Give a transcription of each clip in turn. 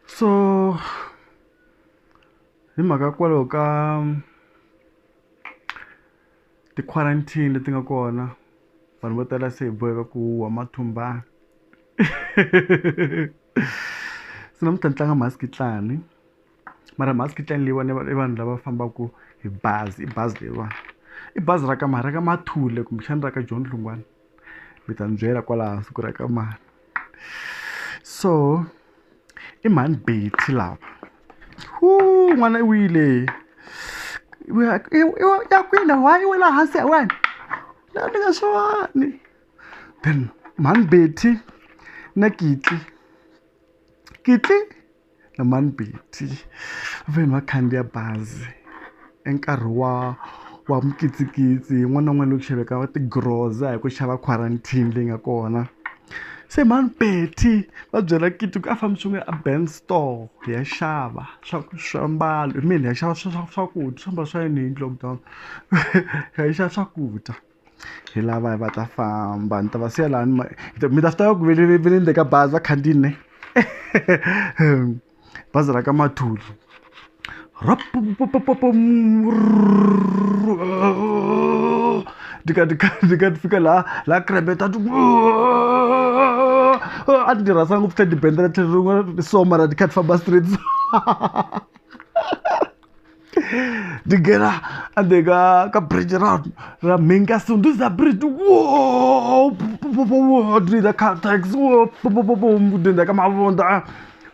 so hi mhaka kwalaho ka ti-quarantine leti nga kona vanhu vo tala se hi boheka ku huhwa mathumbana se namuntlha ni tlanga mhasikitlani mara mhasikitlani leyiwani i vanhu lava fambaka hi bazi i bazi leyiwani i bazi ra ka mani ra ka Mathule kumbexana ra ka John Dlungwane. mi ta ni byela kwala hansi ku ri ka mani so i mhani betty lava hu n'wana i wile ya kwina why i wela hansi ya wena la ni nga swani then mhani betty na kitli kitli na mhani Betty va fanele va khandziya bazi i nkarhi wa wa mikitsikitsi yin'wana na yin'wana loko xaveka va ti groza hi ku xava quarantine leyi nga kona se mhani Betty va byela Kiti ku a fambi swin'we a Ben store hi ya xava swa swiambalo hi ya xava swa swa swakudya swiambalo swa yini hi lockdown hi ya xava swakudya. hi lavaya va ta famba ni ta va siya lani mi ta swi tiva ku ve ni ve ni le ka bazi va khandziyini ne bazi ra ka mathuli ni kha ni kha ni kha ni fika laha laha krebe ta a ni rhandza ngopfu teddy bend ra tlhelo rin'we so mara ni kha ni famba straight so. ndigera andeka ka bridge ra ra minka so ndi za bridge wo ndi za car tax wo ndi za ka mavonda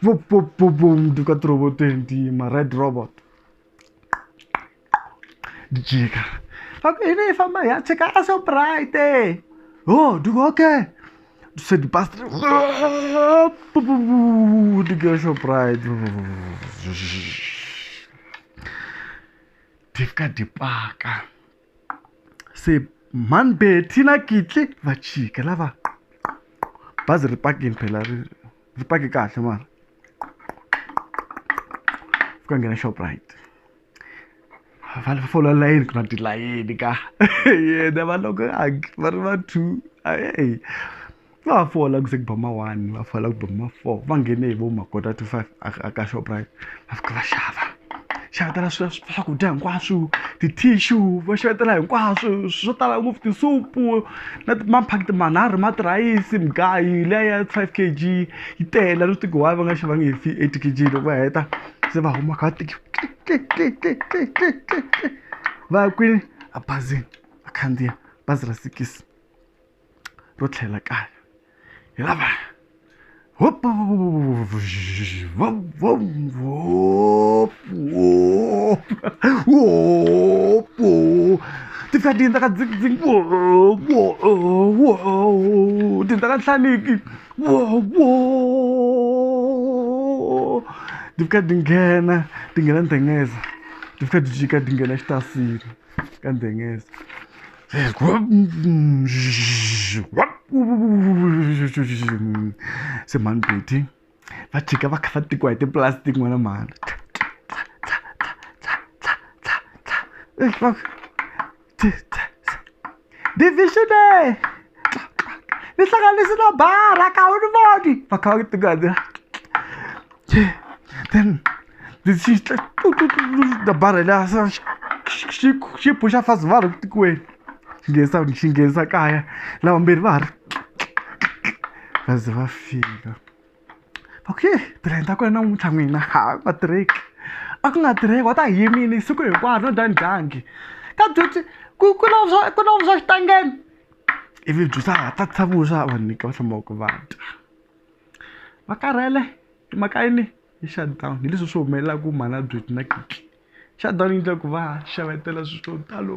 wo ndi ka robot ndi ma red robot ndi jika okay ne famba ya cheka aso bright eh oh ndi okay Você de passa. De Guerra Pride. Tem que ficar de paca. Você man beti na kitli va chika lava bazi ri pakini phela ri pake kahle mara fika nghena shoprite va va fola layini ku na tilayini ka yena va loko hangi va ri va two a heyi va ha fola ku ze ku ba ma one va fola ku ba ma four va nghene hi vo ma quarter to five a a ka Shoprite va fika va xava xavetela swa swakudya hinkwaswo ti-tissue va xavetela hinkwaswo swo tala ngopfu tisupu na maphakiti manharhu ma tirhayisi mugayo liya ya five K_G yi tele a ni swi tivi ku why va nga xavanga hi eight K_G loko va heta. se va huma kha tiki va ya kwini a bazini va khandziya bazi ra sikisi ro tlhela kaya hi lava hopa ti fika tiyindza ka dzingdzingi tiyindza ka nhlaniki Wow, wow. Ti fika ti nghena, ti nghena ndzhengeza. Ti fika ti jika ti nghena xitasini ka ndzhengeza. Se mhani Betty, va jika va kha va tekiwa hi ti-plastic n'wana mhani. Divisionary! Ni hlanganisi na bara ka wu ni voni! Va kha va tingana. Then ni xi na bara la sa xi xi xi phuxa fast va ri tikweni. Xi nghenisa xi nghenisa kaya lavambirhi va ha ri va ze va fika. okay brand a ku ri namuntlha n'wina ha va tirheki a ku nga tirheki wa ta yimile siku hinkwaro no dya ndyangi ka byuti ku ku na swa ku na swa xitangeni ivi byusa ha ta tisa vuswa vanhu nyika va hlamba ku va dya va karhele hi mhaka yini hi shutdown hi leswi swi humelelaku mhana byuti na kiki shutdown yi endla ku va xavetela swilo swo talo.